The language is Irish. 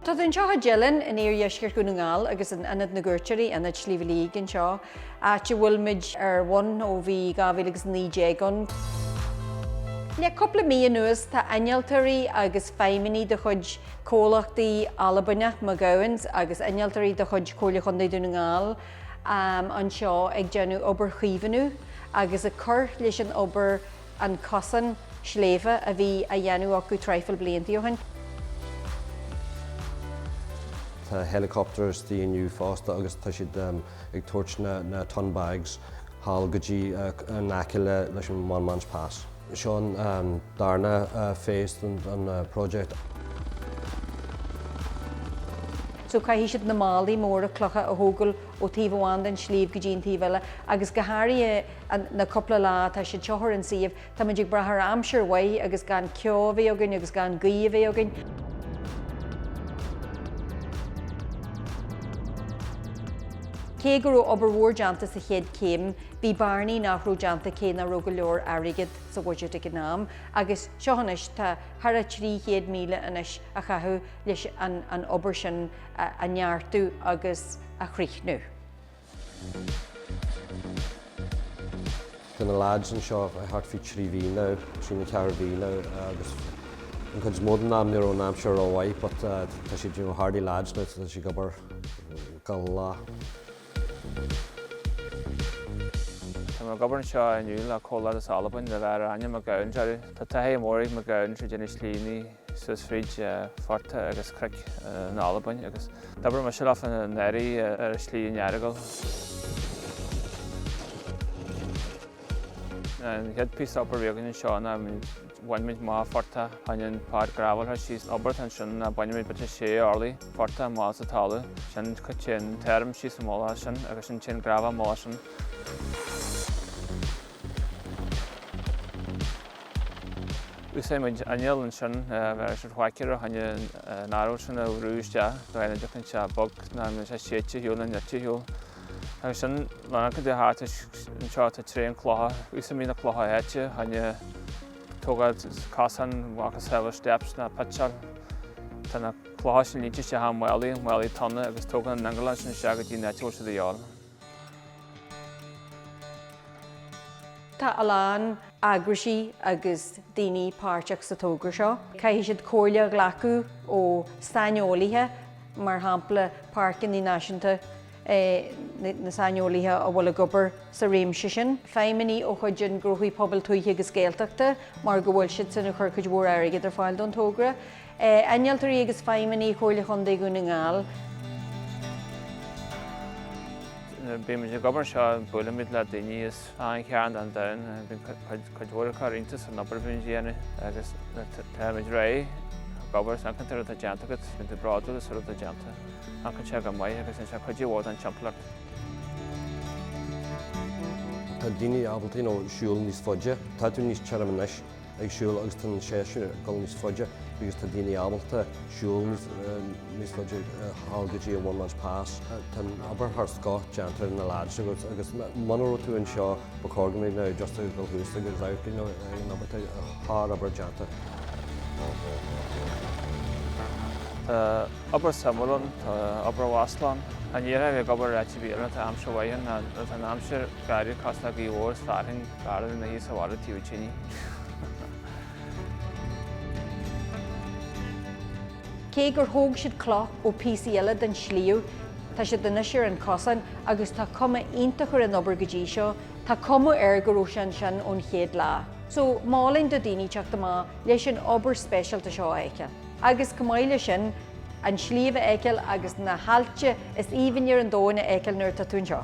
Tá tú anseo i dTeileann in iardheisceart Dhún na nGall agus in Ionad na gCuairteoirí, Ionad Shliabh Liag anseo, áit a bhfuil muid ar bun ó bhí 2019 ann. Le cúpla mí anuas tá innealtóirí agus feidhmeannaigh de chuid comhlachtaí Albanach McGowan agus innealtóirí de chuid Chomhairle Chontae Dhún na nGall, anseo ag déanamh obair chaomhnú agus ag cur leis an obair an cosán sléibhe a bhí á dhéanamh acu traidhfil blianta ó shin. Tá helicopter istigh inniu fosta agus tá siad ag tabhairt na ton bags thall go dtí in aice leis an One Man's Pass. Seo an darna phase den project. So caithfidh siad na málaí móra clocha a thógáil ó taobh amháin den sliabh go dtí an taobh eile agus go háirithe na cúpla lá atá siad seo ar an suíomh tá muid ag brath ar aimsir mhaith agus gan ceo a bheith againn agus gan gaoth a bheith againn. Cé go raibh obair mhór déanta sa chéad chéim, Bhí bearnaí nach raibh déanta cé nach raibh go leor airgid sa bhudget ag an am agus seo anois tá thar a 300,000 anois á chaitheamh leis an obair sin a neartú agus a chríochnú. Tá na leaids anseo thart faoi trí mhí now, trí nó ceathair mhí now agus an chuid is mó den am ní raibh an aimsir ró mhaith but tá siad hardy lads now tá siad ag obair gach lá. Tá mé ag obair anseo inniu le comhlacht as Albain a bheirtear ainm McGowan orthu. Tá taithí mhór ag McGowan ag déanamh slíní suas fríd phortaigh agus cnoic in Albain agus d'obair mise leofa anuraidh ar Shlí an Earagail. An chéad píosa obair a bhí againn anseo ná bhainimid Mágh Firteagh hionann páirc grafalra síos obert annsin ná bainimid bit 6 orlaigh firteagh mágh sa talamh sin co téann tairm síos an mhullach sin agus sin téann grafadh an mhullach sin. Úsáidimid inneall annsin bheith ar siad whacker a tháine an arailt sin a bhrú isteach do dhein a dtiocfainn sé bog ná an bhfuil sé séidte shiúl na nite shiúl. Agus ansin lán go dtí háit is anseo tá tréan clocha. Úsáidimid na clocha áite chun tógáil cosáin macasamhail steps nó pitseáil. Tá na clocha sin líonta isteach i málaí, málaí tonna agus tógann an t-ingearán sin isteach go dtí an áit a bhfuil siad a dhíobháil. Tá a lán eagraisí agus daoine páirteach sa tógra seo. Caithfidh siad comhairle a ghlacadh ó saineolaithe. mar shampla páirceanna náisiúnta, na saineolaithe a bhfuil ag obair sa réimse sin, feidhmeannaigh de chuid an Gnóthaí Pobail Tuaithe agus Gaeltachta mar go bhfuil siadsan ag cur cuid mhór airgid ar fáil don togra, innealtóirí agus feidhmeannaigh Chomhairle Chontae Dhún na nGall. Nuair a bímid ag obair anseo, buailimid le daoine as. Achan chearn den domhan, bíonn cuid mhór acu ag cur iontas san obair a bhíonn á déanamh agus táimid réidh ag obair agus amharcann tú ar an rud atá déanta agat. Bíonn tú bródúil as an rud atá déanta. Amharcann sé go maith agus bíonn sé cuidiú mhór don timpeallacht. Tá daoine ábalta siúl níos faide. Tá tú níos tirime anois. ag siúl agus tá an séasúr ag dul níos faide agus tá daoine ábalta siúl níos faide thall go dtí an One Man's Pass. Tá an obair thar scoth déanta ar na lads agus agus muna raibh tú anseo ba chóir do dhaoine just a dhul thuas agus amharc ar an obair tá sárobair déanta. Tá obair suimiúil ann, tá obair mhaslach ann. Ag iarraidh a bheith ag obair ar áit a bhí ann, tá aimsir mhaith ann, tá an aimsir garbh fosta, gaoth mhór is fearthainn gurbh fhearr ina shuí sa bhaile taobh tine. Cé gur thóg siad cloch ó píosaí eile den tsliabh, tá siad anois ar an chosán agus tá cuma iontach ar an obair go dtí seo. Tá cuma air go raibh sé ansin ón chéad lá. So, mholfainn do dhaoine teacht amach leis an obair speisialta seo a fheiceáil. Agus chomh maith leis sin, an sliabh a fheiceáil agus na haillte is aoibhne ar an domhan a fheiceáil nuair atá tú anseo.